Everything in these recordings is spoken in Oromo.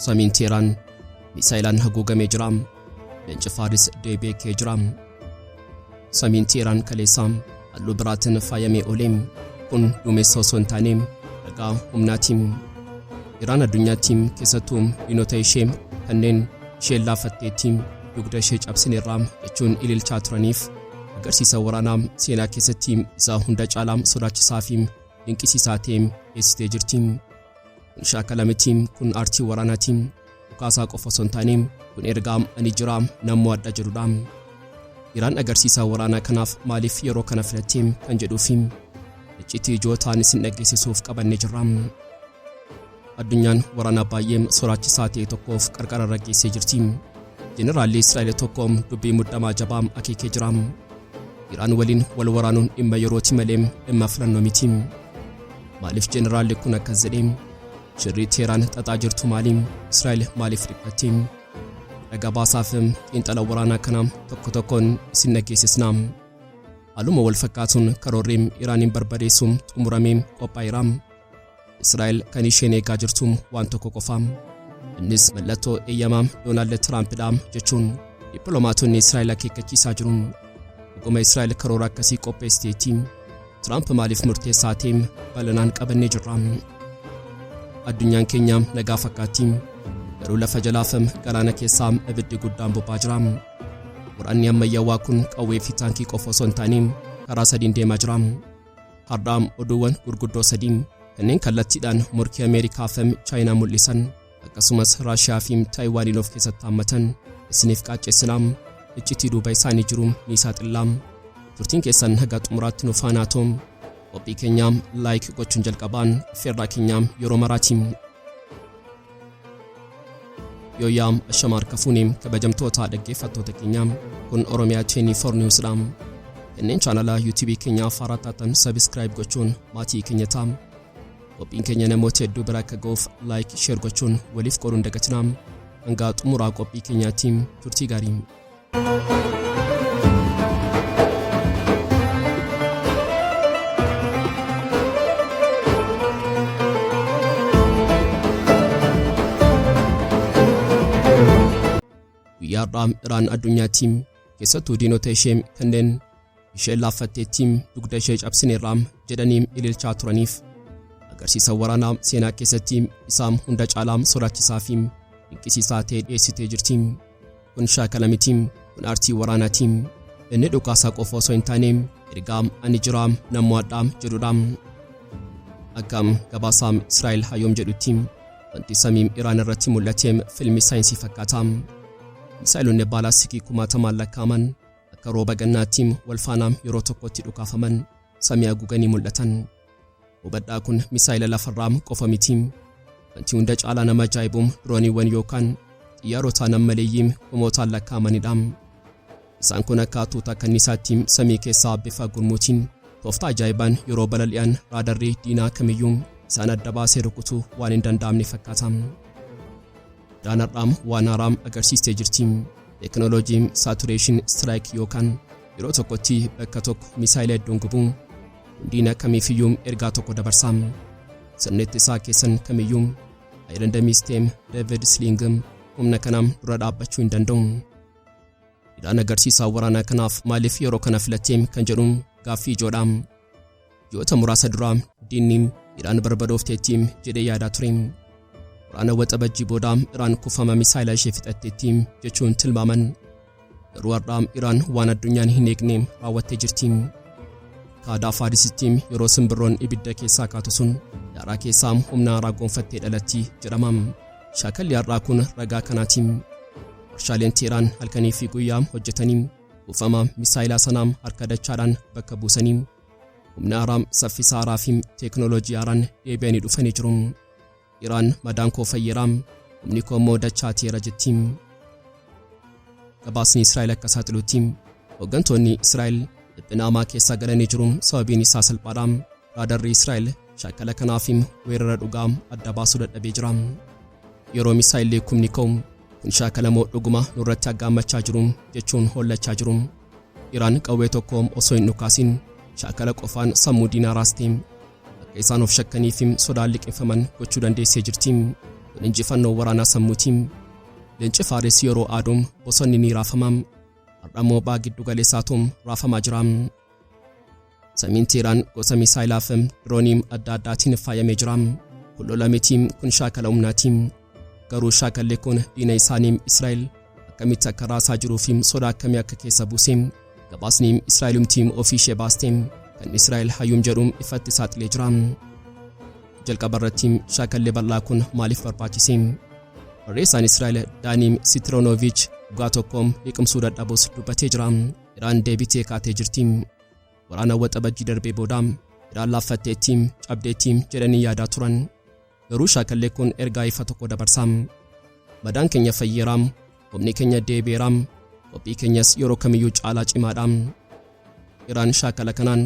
Samiin Teeraan misaayilaan haguugamee jira. Leenci Faaris deebi'ee ka'ee jira. Samiin Teeraan kaleessaa halluu biraatiin faayamee oole. Kun duumessa osoo hin taane ragaa humnaati. Iraan addunyaatti keessattuu diinota ishee kanneen isheen laafatteetti dugda ishee cabsineerra jechuun ililchaa turaniif agarsiisa waraanaa seenaa keessatti isaa hunda caalaa sodaachisaa fi dinqisiisaa ta'e geessitee jirti. Shaakala miti kun aartii waraanaati. Dhukaasaa qofa osoo hin taane kun ergaa ani jiraa nan mo'adha jedhudha. Iraan agarsiisaa waraanaa kanaaf maaliif yeroo kana filattee kan jedhuufi iccitii ijoo ta'an isin dhaggeessisuuf qabanne jirra. Addunyaan waraanaa baay'ee sodaachisaa ta'e tokkoof qarqara irra geessee jirti. Jeneraalli Israa'el tokko dubbii muddamaa jabaa akeekee jira. Iraan waliin wal waraanuun dhimma yerooti malee dhimma filannoo miti. Maaliif jeneraalli kun akkas jedhe? Shirri Teeraan xaxaa jirtu maali? Israa'el maaliif dhiphatti? Dhagaa baasaaf xiinxala waraanaa kana tokko tokkoon isin dhageessisna. Haaluma wal fakkaatuun karoorri Iraaniin barbadeessu xumuramee qophaa'eera. Israa'el kan isheen eegaa jirtu waan tokko qofa. Innis mallattoo eeyyamaa Doonaald Tiraampidha jechuun dippiloomaatonni Israa'el akeekkachiisaa jiru. Dhuguma Israa'el karoora akkasii qopheessiteetti. Tiraamp maaliif murteessaa ta'e balanaan qabannee jirra. Addunyaan keenya nagaa fakkaatti. Garuu lafa jalaaf galaana keessaa ibiddi guddaan bobbaa jira. Waraanni ammayyaawaa kun qawwee fi taankii qofa osoo hin taane karaa sadiin deemaa jira. Har'aa oduuwwan gurguddoo sadii kanneen kallattiidhaan morkii Ameerikaa fi Chaayinaa mul'isan akkasumas Raashiyaa fi Taayiwaaniin of keessatti haammatan isiniif qaaccessinaa iccitii duuba isaanii jiru ni saaxillaa. Turtiin keessan haga xumuraatti nu faanaa ta'u. Qophii keenyaam laayik gochuun jalqabaan feerraa keenyaam yeroo maraati. Yooyaam ashama harka fuune kabajamtoota dhaggeeffattoota keenyaam kun Oromiyaa Cheenii for News dha. Kanneen chaanala YouTube keenyaa faaraa taatan sabiskiraayib gochuun maatii keenya ta'a. Qophiin keenya namoota hedduu bira akka ga'uuf laayik sheer gochuun waliif qooduun dagatinaa hangaa xumuraa qophii keenyaatiin turtii gaarii. Guyyaa har'aa Iraan addunyaatti keessattuu diinota ishee kanneen isheen laaffatteetti dugda ishee cabsineerra jedhanii ililchaa turaniif agarsiisa waraanaa seenaa keessatti isaa hunda caalaa sodaachisaa fi dinqisiisaa ta'e dhiyeessitee jirti. Kun shaakala miti, kun aartii waraanaati. Inni dhukaasaa qofa osoo hin taane ergaa ani jiraa nan mo'adha jedhudha. Akka gabaasaa Israa'el Hayoom jedhutti wanti samiim Iraan irratti mul'ate filmii saayinsii fakkaata. Misaa'eloonni baalaasikii kumaatamaan lakkaa'aman Akka rooba gannaatti wal faana yeroo tokkotti dhukaafaman samii haguuganii mul'atan. Hubadhaa kun misaayila lafarraa qofa miti. Wanti hunda caalaa nama ajaa'ibu dirooniiwwan yookaan xiyyaarota nammaleeyyii kumootaan lakkaa'amanidha. Isaan kun akka tuuta kanniisaatti samii keessaa bifa gurmuutiin tooftaa ajaa'ibaan yeroo balali'an raadarrii diinaa kamiyyuu isaan adda baasee rukutuu waan hin danda'amne fakkaata. dhaan har'aam waan haaraam agarsiistee jirti. Teeknooloojiin saatureeshin istiraayik yookaan yeroo tokkotti bakka tokko misaayila hedduun gubuu hundiin akkamiifiyyuu ergaa tokko dabarsaa. Sirni ittisaa keessan kamiyyuu Ayirandamii Steem Deevid Sling humna kanaam dura dhaabbachuu hin danda'u. Hidhaan agarsiisaa waraanaa kanaaf maaliif yeroo kana filatteem kan jedhu gaaffii ijoodha. Ji'oota muraasa duraa diinni Iraan barbadoofteetti jedhee yaadaa ture. Waraana waxabajjii booda Iraan kuufama misaayilaa ishee fixatteetti jechuun tilmaaman. Garuu har'aa Iraan waan addunyaan hin eegne raawwattee jirti. Kaadaa Faarisitti yeroo simbirroon ibidda keessaa kaatu sun daaraa keessaa humna haaraa gonfattee dhalatti jedhama. Shaakalli har'aa kun ragaa kanaati. Warshaaleen Teeraan halkanii fi guyyaa hojjetanii Kuufama misaayilaa sanaa harka dachaadhaan bakka buusanii humna haaraa, saffisa haaraa fi teeknooloojii haaraan deebi'anii dhufanii jiru. Iraan madaan koo fayyeera, humni koo immoo dachaateera jetti. Gabaasni Israa'el akka saaxilutti hooggantoonni Israa'el dhiphina hamaa keessaa galanii jiru sababiin isaa salphaadha. Raadarri Israa'el shakkala kanaafi weerara dhugaa adda baasuu dadhabee jira. Yeroo misaa'illi kumni ka'u kun shaakala moo dhuguma nurratti aggaammachaa jiru jechuun hollachaa jiru. Iraan qawwee tokko osoo hin dhukaasin shaakala qofaan sammuu diinaa raaste akka isaan of shakkaniifi sodaan liqinfaman gochuu dandeessee jirti. Kun injifannoo waraanaa sammuuti. Leenci Faaris yeroo aadu bosonni ni raafama. Har'a immoo baha giddu galeessaatu raafamaa jira. Samiin Teeraan gosa misaayilaa fi dirooniim adda addaatiin faayamee jira. Kun lola miti, kun shaakala humnaati. Garuu shaakalli kun diina isaanii Israa'el akkamitti akka raasaa jiruu fi soda akkamii akka keessa buuse gabaasni Israa'elumti ofii ishee baaste kan Israa'el hayyuun jedhu ifatti saaxilee jira. Jalqaba irratti shaakalli bal'aa kun maaliif barbaachise? Barreessaan Israa'el Daaniim Sitiroonoviich dhugaa tokko liqimsuu dadhabus dubbatee jira. Iraan deebitee kaatee jirti. Waraana waxabajjii darbee booda Iraan laaffatteetti, cabdeetti jedhanii yaadaa turan. Garuu shaakalli kun ergaa ifa tokko dabarsa. Madaan keenya fayyeera, humni keenya deebi'eera, qophii keenyas yeroo kamiyyuu caalaa cimaadha. Iraan shaakala kanaan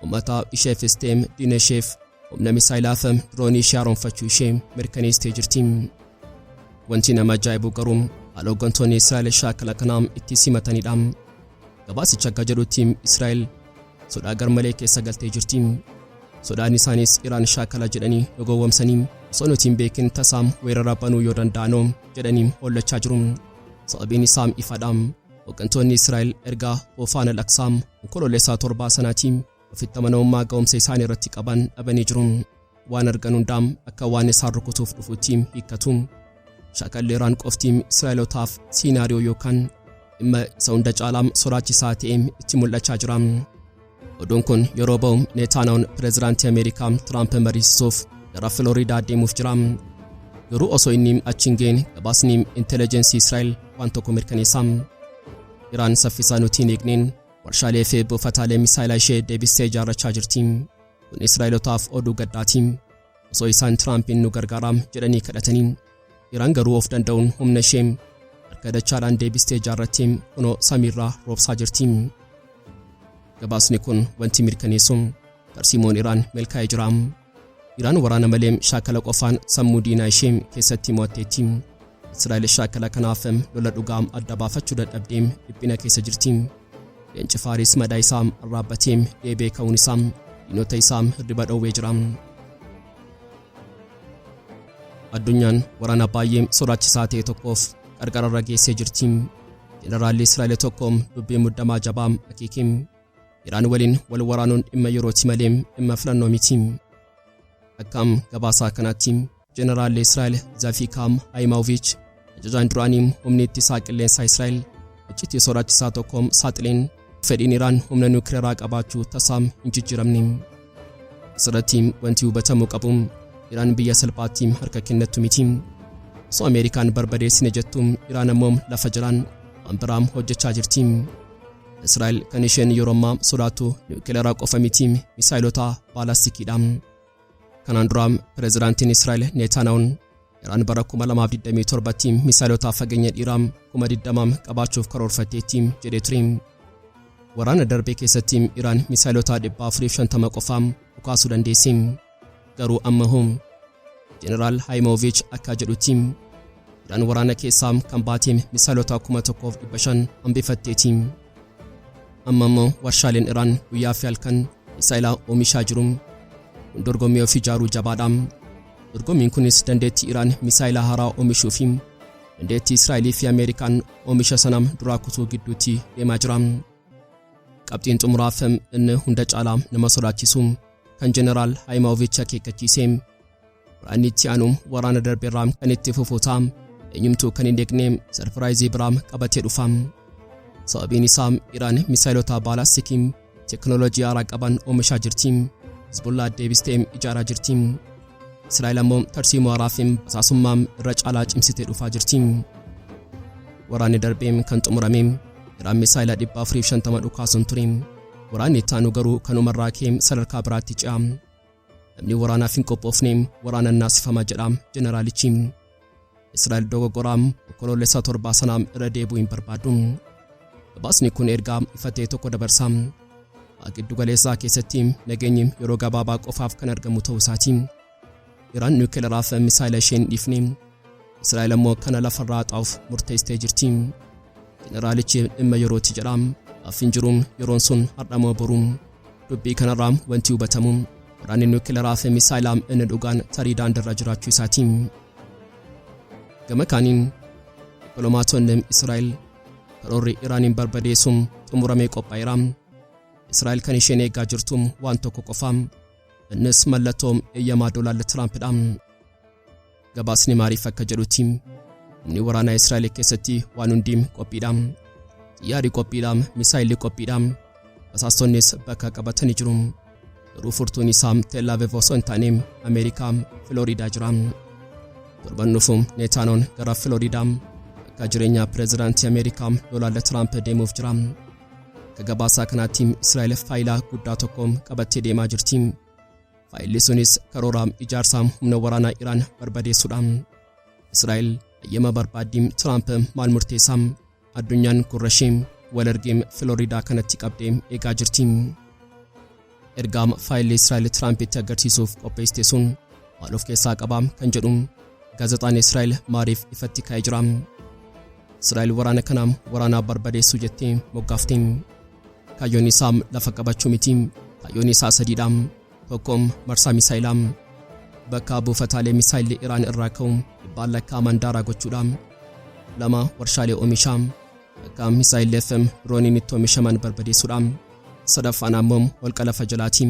ummataaf isheefis ta'e diina isheef Humna misaayilaafa diroonii ishee haaromfachuu ishee mirkaneessitee jirti. Wanti nama ajaa'ibu garuu haala hooggantoonni Israa'el shaakala kanaa itti simatanidha. Gabaasichi akka jedhutti Israa'el sodaa garmalee keessa galtee jirti. Sodaan isaanis Iraan shaakala jedhanii nu gowwomsanii osoo nuti hin beekin tasaa weerara banuu yoo danda'anoo jedhanii hollachaa jiru. Sababiin isaa ifadha. Hooggantoonni Israa'el erga Oofaan al-Aqsaa onkoloolessaa torbaa sanaatiin Ofitti amanamummaa ga'umsa isaanii irratti qaban dhabanii jiru. Waan argan hundaa akka waan isaan rukutuuf dhufuutti hiikkatu. Shaakalli Iraan qofti Israa'elotaaf siinaariyoo yookaan dhimma isa hunda caalaa sodaachisaa ta'e itti mul'achaa jira. Oduun kun yeroo ba'u Neetaanaawun pireezidaantii Ameerikaa Tiraamp mariisisuuf gara Filooriidaa deemuuf jira. Garuu osoo inni achi hin ga'in gabaasni intelligensii Israa'el waan tokko mirkaneessa. Iraan saffisaan utuu hin eegneen Warshaalee fi buufataalee misaayilaa ishee deebistee ijaarrachaa jirti. Kun Israa'elotaaf oduu gaddaati. Osoo isaan Tiraampiin nu gargaaraa jedhanii kadhatanii. Iraan garuu of danda'uun humna ishee harka dachaadhaan deebistee ijaarrattee kunoo samiirraa roobsaa jirti. Gabaasni kun wanti mirkaneessu tarsiimoon Iraan milkaa'ee jira. Iraan waraana malee shaakala qofaan sammuu diinaa ishee keessatti mo'atteetti. Israa'el shaakala kanaaf lola dhugaa adda baafachuu dadhabdee dhiphina keessa jirti. Leenci Faaris madaa isaa arraabbatee deebee ka'uun isaa diinota isaa hirriba dhoowwee jira. Addunyaan waraana baay'ee sodaachisaa ta'e tokkoof qarqararra geessee jirti. Jeneraalli Israa'el tokko dubbii muddamaa jabaa akeeke. Iraan waliin wal waraanuun dhimma yerooti malee dhimma filannoo miti. Akkaam gabaasaa kanaatti Jeneraalli Israa'el Zafiikaam Haayimaawoviich ajajaan duraanii humni ittisaa qilleensaa Israa'el iccitii sodaachisaa tokko saaxileen fedhiin Iraan humna nuukileeraa qabaachuu tasaa hin jijjiiramne. Asirratti wanti hubatamuu qabu Iraan biyya salphaatti harka kennattu miti. Osoo Ameerikaan barbadeessine jettu Iraan ammoo lafa jalaan waan biraa hojjechaa jirti. Israa'el kan isheen yeroo ammaa sodaattu niwukilaraa qofa miti misaayilota baalastikiidha. Kanaan dura pireezidaantiin Israa'el Neetaanaawun Iraan bara 2027tti misaayilota fageenya dhiiraa 20,000 qabaachuuf karoorfatteetti jedhee ture. Waraana darbee keessatti Iraan misaayilota 450 qofaa dhukaasuu dandeessi. Garuu amma hoo? Jeneraal Haayimooviich akka jedhutti Iraan waraana keessaa kan baate misaaloota 1500 hambifatteeti. Amma immoo warshaaleen Iraan guyyaa fi halkan misaa'ila oomishaa jiru. Kun dorgommii of ijaaruu jabaadha. Dorgommiin kunis dandeettii Iraan misaa'ila haaraa oomishuu fi dandeettii Israa'elii fi Ameerikaan oomisha sana duraa kutuu gidduutti deemaa jira. Qabxiin xumuraaf inni hunda caalaa nama sodaachisu kan Jeneraal Haayimaawovichi akeekkachiise. Waraanni itti aanu waraana darbe irraa kan itti fufu ta'a. Eenyumtuu kan hin eegne sarpiraayizii biraa qabatee dhufa. Sababiin isaa Iraan misaayilota baalaastikii teknooloojii haaraa qaban oomishaa jirti. Hizbullaa deebistee ijaaraa jirti. Israa'el ammoo tarsiimoo haaraa fi basaasummaa irra caalaa cimsitee dhufaa jirti. Waraanni darbee kan xumurame Iraan misaayila 450 dhukaasuun ture. Waraanni itti aanu garuu kanuma irraa ka'ee sadarkaa biraatti ce'a. Namni waraanaaf hin qophoofne waraanaan naasifama jedha jeneraalichi. Israa'el dogoggoraa onkoloolessa torbaa sana irra deebi'uu hin barbaadu. Gabaasni kun ergaa ifa ta'e tokko dabarsa. Giddu galeessaa keessatti nageenyi yeroo gabaabaa qofaaf kan argamu ta'uu isaati. Iraan niwukilaraa fi misaayila ishee hin dhiifne. Israa'el ammoo kana lafarraa haxaa'uuf murteessitee jirti. Jeneraalichi dhimma yerooti jedha. Afin jiru yeroon sun har'a moo boru. Dubbii kanarraa wanti hubatamu waraanni niwukilaraa fi misaayilaa inni dhugaan tarii daandirra jiraachuu isaati. Gama kaaniin dippiloomaatonni Israa'el karoorri Iraaniin barbadeessuun xumuramee qophaa'eera. Israa'el kan isheen eegaa jirtu waan tokko qofa. Innis mallattoo eeyyamaa Doonaald Tiraampidha. Gabaasni maariif akka jedhutti humni waraanaa Israa'el keessatti waan hundi qophiidha. Xiyyaarri qophiidha, misaayilli qophiidha. Basaastonnis bakka qabatanii jiru. Garuu furtuun isaa Tel Aviv osoo hin taane Ameerikaa Filooriidaa jira. Torban dhufu Neetaanoon gara Filooriidaa bakka jireenyaa pireezidaantii Ameerikaa Doonaald Tiraamp deemuuf jira. Akka gabaasaa kanaatti Israa'el faayilaa guddaa tokko qabattee deemaa jirti. Faayilli sunis karoora ijaarsa humna waraanaa Iraan barbadeessuudha. Israa'el hayyama barbaaddii Tiraamp maal murteessaa? Addunyaan gurra ishee wal argee Filooriidaa kanatti qabdee eegaa jirti. Ergaam faayilli Israa'el Tiraampitti agarsiisuuf qopheessite sun maal of keessaa qaba kan jedhu gaazexaan Israa'el maariif ifatti ka'ee jira. Israa'el waraana kana waraanaa barbadeessuu jettee moggaafte. Kaayyoon isaa lafa qabachuu miti. Kaayyoon isaa sadiidha. Tokko marsaa misaa'ilaa. Bakka buufataalee misaa'illi Iraan irraa ka'u dhibbaan lakkaa'aman daaraa gochuudha. Lama warshaalee oomishaa. Akka misaayilli FM dirooniin itti oomishaman barbadeessuudha. Sadaffaan ammoo holqa lafa jalaati.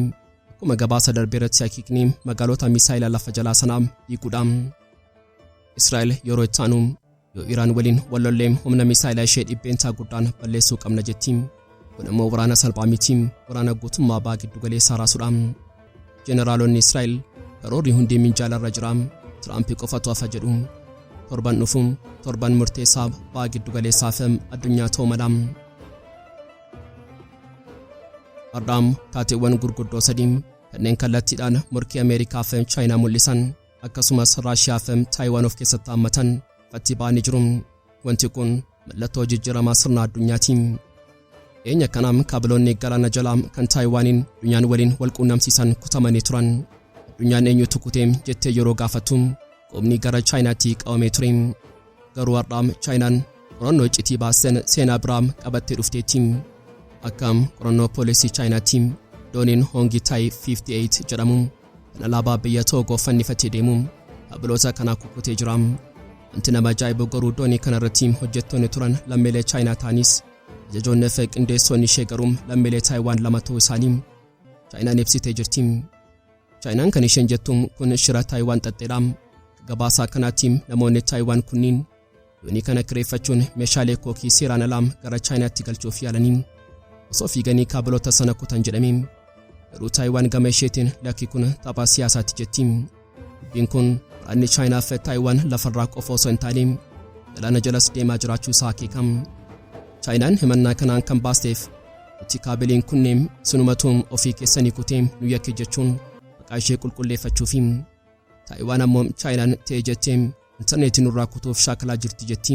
Akkuma gabaasa darbe irratti hakiikni magaalota misaayila lafa jalaa sanaa diiguudha. Israa'el yeroo itti aanu yoo Iraan waliin wal lollee humna misaayila ishee dhibbeentaa guddaan balleessuu qabna jetti. Kun immoo waraana salphaa miti, waraana guutummaa ba'aa giddu galeessaa raasuudha. Jeneraalonni Israa'el karoorri hundi minjaalarra jira, Tiraampi qofatu hafa jedhu. Torban dhufu torban murteessaa ba'a giddugaleessaa fi addunyaa ta'uu mala. Har'a taateewwan gurguddoo sadii kanneen kallattiidhaan morkii Ameerikaa fi Chaayinaa mul'isan akkasumas Raashiyaa fi Taayiwaan of keessatti haammatan ifatti ba'anii jiru. Wanti kun mallattoo jijjiiramaa sirna addunyaati. Dhiyeenya kana kaabiloonni galaana jalaa kan Taayiwaaniin addunyaan waliin wal quunnamsiisan kutamanii turan. Addunyaan eenyutu kute jettee yeroo gaafattu qubni gara Chaayinaatti qabamee ture. Garuu har'aa Chaayinaan qorannoo iccitii baasen seenaa biraa qabattee dhufteetti. Akka qorannoo poolisii Chaayinaatti dooniin Hoongi Taayi 58 jedhamu Kan alaabaa biyya Toogoo fannifatee deemu habloota kanaa kukkutee jira. Wanti nama ajaa'ibu garuu doonii kanarratti hojjettoonni turan lammiilee Chaayinaa ta'anis ajajoonni fi qindeessoonni ishee garuu lammiilee Taayiwaan lama ta'uu isaanii Chaayinaan ibsitee jirti. Chaayinaan kan isheen jettu kun shira Taayiwaan xaxxeedha. Gabaasaa kanaatti namoonni Taayiwaan kunniin Doonii kana kireeffachuun meeshaalee kookii seeraan alaa gara Chaayinaatti galchuuf yaalanii osoo fiiganii kaabiloota sana kutan jedhame. Garuu Taayiwaan gama isheetiin lakki kun tapha siyaasaatti jetti. Dubbiin kun waraanni Chaayinaa fi Taayiwaan lafarraa qofa osoo hin taane galaana jalas deemaa jiraachuu isaa akeeka. Chaayinaan himannaa kanaan kan baasteef nuti kaabiliin kunneen sinumatuun ofii keessanii kutee nu yakke jechuun maqaa ishee qulqulleeffachuufi. Taayiwaan ammoo Chaayinaan ta'e jettee Intarneetii nurraa kutuuf shaakalaa jirti jetti.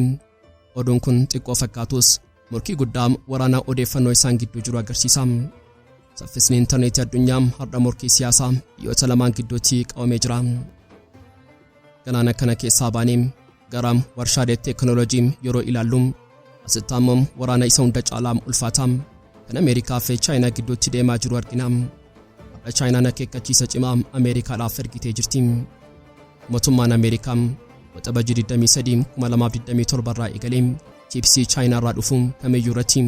Oduun kun xiqqoo fakkaatus morkii guddaa waraanaa odeeffannoo isaan gidduu jiru agarsiisa. Saffisni intarneetii addunyaa har'a morkii siyaasaa biyyoota lamaan gidduutti qabamee jira. Galaana kana keessaa baanee gara warshaaleetti teekinooloojiin yeroo ilaallu Asitti ammoo waraana isa hunda caalaa ulfaataa kan Ameerikaa fi Chaayinaa gidduutti deemaa jiru argina. Har'a Chaayinaan akeekkachiisa cimaa Ameerikaadhaaf ergitee jirti. Mootummaan Ameerikaa waxabajii 23 2027 irraa eegalee chiipsii Chaayinaa irraa dhufu kamiyyuu irratti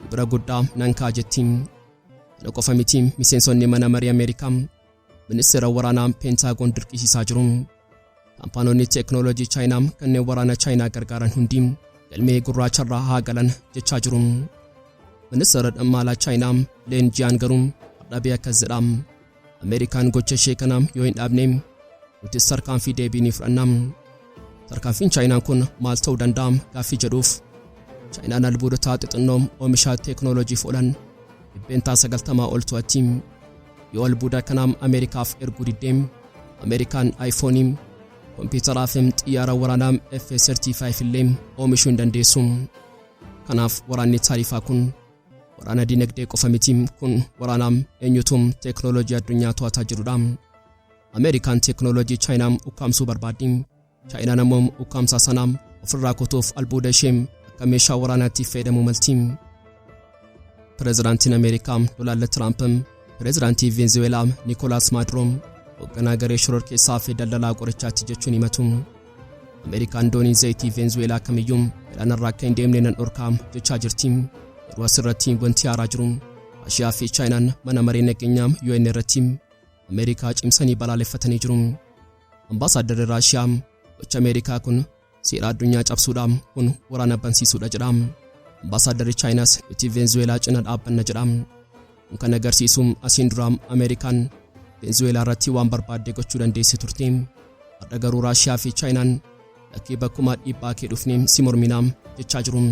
gibira guddaa nan kaa'a jetti. Kana qofa miti miseensonni mana marii Ameerikaa Ministeera waraanaa Peentaagoon dirqisiisaa jiru. Kaampaanonni teeknooloojii Chaayinaa kanneen waraana Chaayinaa gargaaran hundi galmee gurraacharraa haa galan jechaa jiru. Ministeera dhammaalaa Chaayinaa Leen Jiyaan garuu hardhabee akkas jedha. Ameerikaan gocha ishee kana yoo hin dhaabne nutis tarkaanfii deebii ni fudhanna. Tarkaanfiin Chaayinaa kun maal ta'uu danda'a gaaffii jedhuuf Chaayinaan albuudotaa xixinnoo oomisha teeknooloojiif oolan dhibbeentaa 90 ol to'atti. Yoo albuuda kanaa Ameerikaaf erguu didde, Ameerikaan iPhone, kompiitaraa fi xiyyaara waraanaa F-35 illee oomishuu hin dandeessu. Kanaaf waraanni taarifaa kun waraana dinagdee qofa miti, kun waraanaa eenyutu teeknooloojii addunyaa to'ataa jirudha. Ameerikaan teeknooloojii Chaayinaa ukkaamsuu barbaaddi. Chaayinaan ammoo ukkaamsaa sana ofirraa kutuuf albuuda ishee akka meeshaa waraanaatti fayyadamuu malti. Pireezidaantiin Ameerikaa Doonaald Tiraamp pireezidaantii Veenzuweelaa Nikolaas Maaduroo hoogganaa garee shororkeessaa fi daldalaa qorichaatti jechuun himatu. Ameerikaan doonii zayitii Veenzuweelaa kamiyyuu galaanarraa akka hin deemne nan dhorkaa jechaa jirti. Yeroo asirratti wanti haaraa jiru Raashiyaa fi Chaayinaan mana maree nageenyaa UN irratti Ameerikaa cimsanii balaaleffatanii jiru. Ambaasaaddarri Raashiyaa gochi Ameerikaa kun seera addunyaa cabsuudha, kun waraana bansiisuudha jedha. Ambaasaaddarri Chaayinaas nuti Veenzuweelaa cina dhaabbanna jedha. Kun kan agarsiisu asiin duraa Ameerikaan Veenzuweelaa irratti waan barbaadde gochuu dandeessi turte. Har'a garuu Raashiyaa fi Chaayinaan Lakkii bakkumaa dhiibbaa kee dhufnee si morminaa jechaa jiru.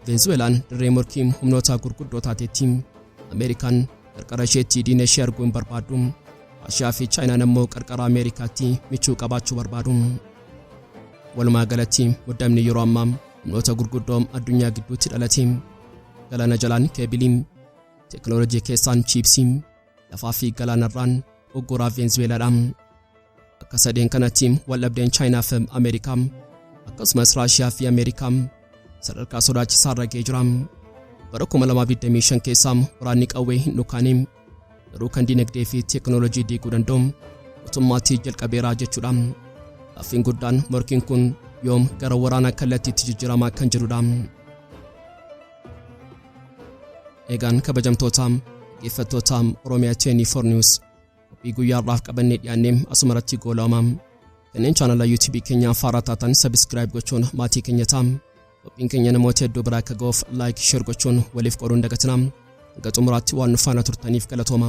Veenzuweelaan dirree morkii humnoota gurguddoo taatetti. Ameerikaan qarqara isheetti diina ishee arguu hin barbaaddu. Raashiyaa fi Chaayinaan ammoo qarqara Ameerikaatti michuu qabaachuu barbaadu. Walumaa galatti muddamni yeroo ammaa humnoota gurguddoo addunyaa gidduutti dhalate. Galaana jalaan keebilii, teeknooloojii keessaan chiipsii, Lafaa fi galaanarraan ugguraa Veenzuweelaadha. Akka sadeen kanatti waldhabdeen Chaayinaa fi Ameerikaa akkasumas Raashiyaa fi Ameerikaa sadarkaa sodaachisaa irra ga'ee jira. Bara 2025 keessa waraanni qawwee hin dhukaane garuu kan dinagdee fi teekinooloojii diiguu danda'u guutummaatti jalqabeera jechuudha. Gaaffiin guddaan morkiin kun yoom gara waraanaa kallattiitti jijjiiramaa kan jedhudha. Egaan kabajamtootaa dhaggeeffattoota Oromiyaa 24 News qophii guyyaa har'aaf qabannee dhiyaannee asuma irratti goolama. Kanneen chaanala YouTube keenya haaraa taatan sabiskiraayib gochuun maatii keenya ta'a. Qophiin keenya namoota hedduu biraa akka ga'uuf laayik sheer gochuun waliif qooduun dagatina. Hanga xumuraatti waan nu faana turtaniif galatooma.